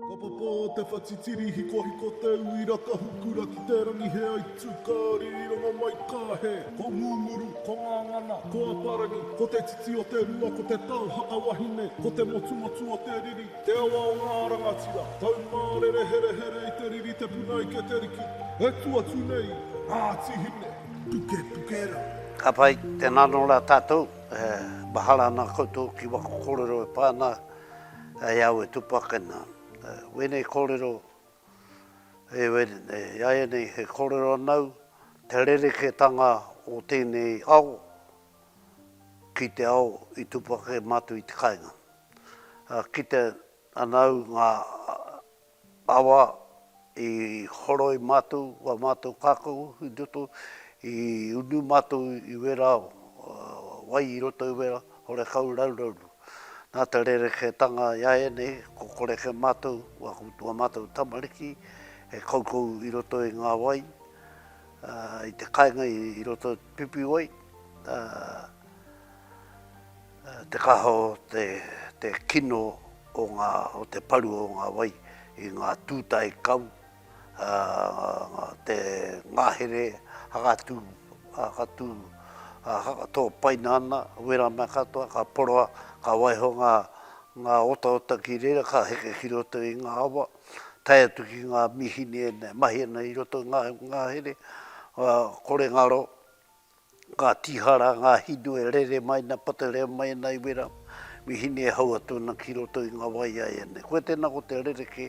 Ka papa te whatitiri hikohiko te uira ka hukura ki te rangi he aitu ka ririranga mai ka he Ko Ngunguru, ko Ngangana, ko Aparangi Ko te titi o te rua ko te tau haka wahine Ko te motumotu o te riri, te awa o ngā rangatira Taumārere herehere i te riri te puna ike te riki E tu atu nei Ngāti Hine, pukepuke rā. Ka pai, tēnā anō rā tātou, e mahara ana koutou ki waku kōrero e pā ana. Hei au e tupakena, wēnei kōrero, e wēnei, i a ia nei he kōrero anau, te rerekētanga o tēnei ao ki te ao i tupake mātou i te kāinga. Kitea anau ngā. Awa i horoi matou, wa matou kakou i toto, i unu matou i wera wai i roto i wera, horekau raurauru. Na te rereketanga i a enei, ko koreke matou, wa matou tamariki e koukou i roto i nga wai, i te kainga i roto i te pipiwai, Te kaha o te kino o te paru o ngā wai i ngā tūtae kau, te ngahere hakatū, hakatū, tōpaina ana, wera mea katoa, ka poroa, ka waiho ngā otaota ki reira, ka heke ki roto i ngā awa, tae atu ki ngā mīhini e mahi ana i roto i ngā ngahere, kore ngaro. Ka tīhara ngā hinu e rere mai ana, patarea mai ana i wera, me hine e hau atu ana ki roto i ngā wai a ēnei. Koia tēnā ko te rerekē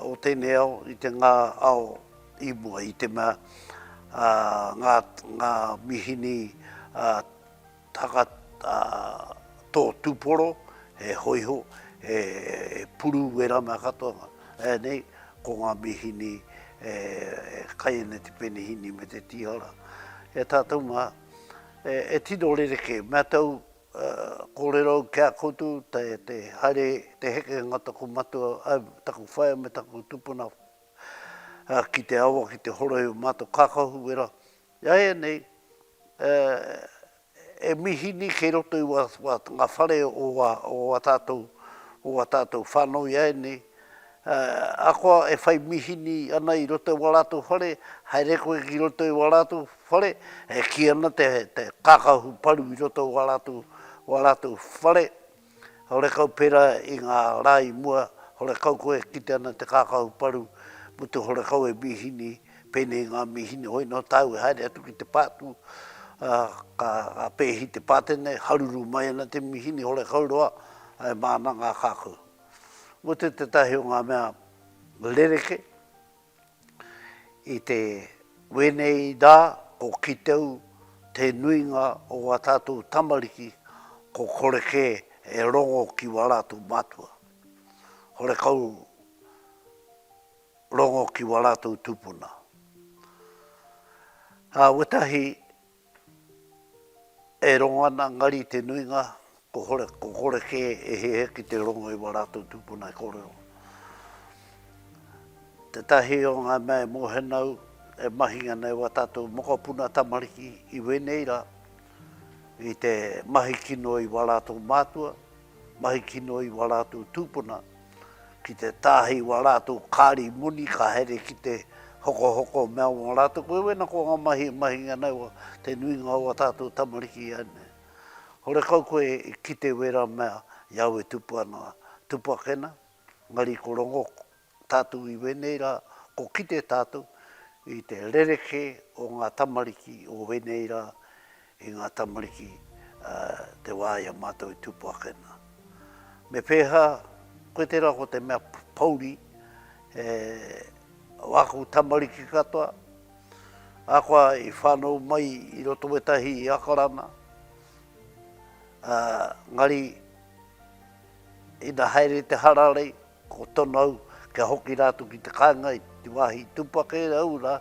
o tēnei ao i te ngā ao i mua, i te mea ngā mihini Taka tō tūporo, he hōiho, he puru wērā mea katoa nei, ko ngā mīhini e kai ana te penihini me te tīhara. E tātou mā, e tino rerekē, me āta kōrero au ki a koutou, te haere, te hekenga taku matua, taku whaea me taku tupuna ki te awa, ki te horohio mātou kākahu wera, Iaianei, e mihini kei roto i nga whare o a tatou, o a tatou whanau iaianei, akoa e whai mihini ana i roto i a latou whare, haere koe ki roto i a latou whare, e ki ana te kakahu paru i roto i a latou whare, Horekau pērā i ngā rā i mua, horekau koe e kite ana te kākahu paru mō te horekau e mīhini, pēnei i ngā mīhini hoi nō tāu e haere atu ki te pātū, ā, ka pēhi te pātai nei, haruru mai ana te mīhini horekau roa, ā, e mā ana ngā kākahu. Mō te tētahi o ngā mea rerekē. I te wēnei rā ko Kiteu te nuinga o ngā tātou tamariki ko kore kē e rongo ki wā rātou mātua. Horekau rongo ki wā rātou tūpuna. Ā wetahi E rongo ana nga ri te nuinga, ko kore ke e hehe ki te rongo i wa ratou tupuna e korero. Tetahi o nga mea e mohenau e mahi ana e wa tatou mokopuna tamariki i wenei ra, i te mahi kino i wa ratou matua, mahi kino i wa ratou tupuna, ki te tāhī wā rātou kāri moni ka haere ki te hokohoko mea wā rātou koe wēna ko ngā mahi e mahi ana i te nuinga o wā tātou tamariki ai nei. Horekau koe i kite wērā mea i au e tupu ana, tupu ake na, engari ko rongo tātou i wēnei rā, ko kite tātou i te rereke o ngā tamariki o wēnei rā i ngā tamariki te wā i a mātou e tūpo ake ana. Me pēhā, koe tērā ko te mea pouri, he o āku tamariki katoa, ākoa i whānau mai i roto o ētahi akarana, engari ina haere te hararei, ko tono au kia hoki rātou ki te kāinga i te wāhi i tūpo ake au rā,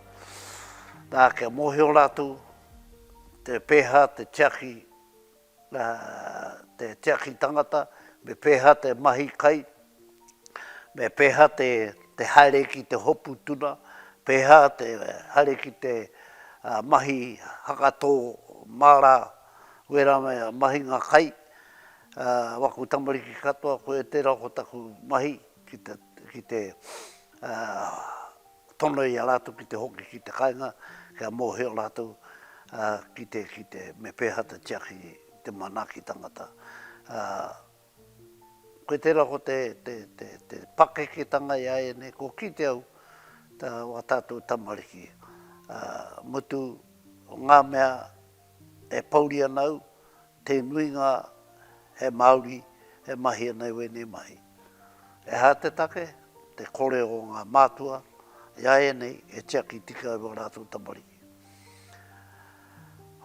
nā, kia mōhio rātou, te pēhā te tiaki, te tiaki tangata, me pēhā te mahi kai, me pēhā te haere ki te hopu tuna, pēhā te haere ki te mahi hakatō māra wera me mahinga kai, waku tamariki katoa, koe tērā ko taku mahi ki te, ki te. tono i a rātou ki te hoki ki te kāinga kia mōhio rātou ki te, ki te, me pēhā te tiaki te manaaki tangata. Koe tērā ko te, te, te, te pakeketanga i a ēnei, ko kite au tā wā tātou tamariki, mutu o ngā mea e pouri ana au, Te nuinga he Māori e mahi ana i wēnei mahi. He aha te take? Te kore o ngā mātua i a ēnei e tiaki tika ai wā rātou tamariki.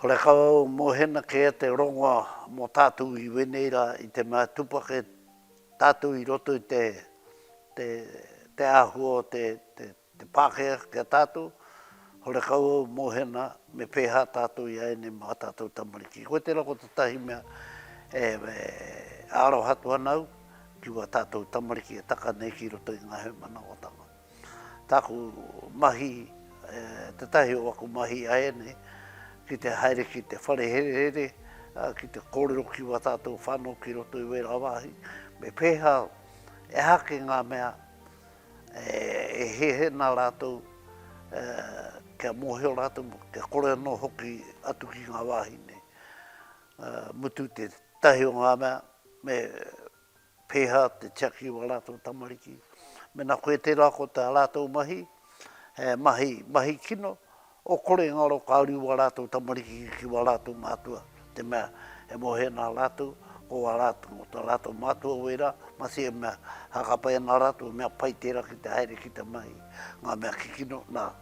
Horekau au mohena kē te rongoa mō tātou i wēnei rā i te mea tupake tātou i roto i te āhua o te Te Pākehā ki a tātou, horekau au mohena me pēhā tātou i ēnei mā tātou tamariki. Koe tērā ko tētahi mea e aroha atu ana au ki wā tātou tamariki e taka nei ki roto i ngā hēmanaotanga. Tāku mahi, tētahi o aku mahi i a ēnei, ki te haere ki te whare herehere, ki te kōrero ki wā tātou whānau ki roto i wērā wāhi, me pēhā, ehake ngā mea, E hehena rātou kia mōhio rātou, kia kore anō hoki atu ki ngā wāhi nei. Mutu tētahi o ngā mea, me pēhā te tiaki o ā rātou tamariki. Mēnā koe tērā ko tā rātou mahi, he mahi, mahi kino, O kore nga ro ka uri wa ratou tamariki ki wa ratou matua, te mea, e mohe na ratou, ko wa ratou, mo ta ratou matua wera, masi e mea, hakapa e na ratou mea pai tera ki te haere ki te mahi, nga mea kikino, na,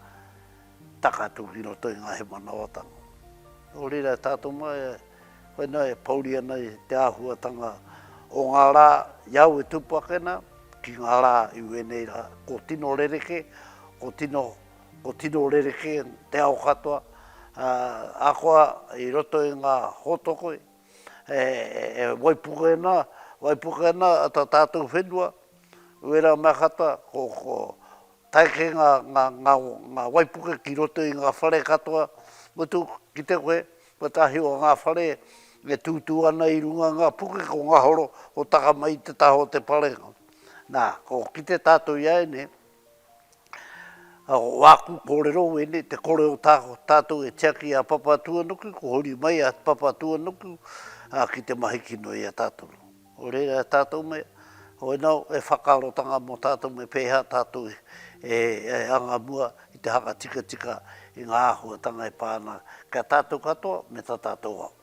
taka atu ki roto i nga hemanawatanga. No reira e tatou ma, e, koe na e pouri ana i te ahuatanga o nga ra i a au e tupu ake na, ki nga ra i wenei ra, ko tino rereke, ko tino Ko tino rerekē te ao katoa, ahakoa i roto i ngā hōtokoi, e waipuke ana, waipuke ana tā tātou whenua, uera mea katoa, ko tae kē ngā waipuke ki roto i ngā whare katoa, mutu kite koe, kotahi o ngā whare e tūtū ana i runga i ngā puke, ko Ngahoro, ko Takama i te taha o te parenga. Nā, ko kite tātou i a ēnei, Āku kōrero wēnei, te kore o tātou e tiaki i a Papatūānuku, ko huri mai a Papatūānuku ki te mahi kino i a tātou. Nō reira e tātou mea, hoi nō e whakaarotanga mō tātou me pēhea tātou e anga mua i te hanga tikatika i ngā āhuatanga e pā ana ki a tātou katoa me tā tātou ao.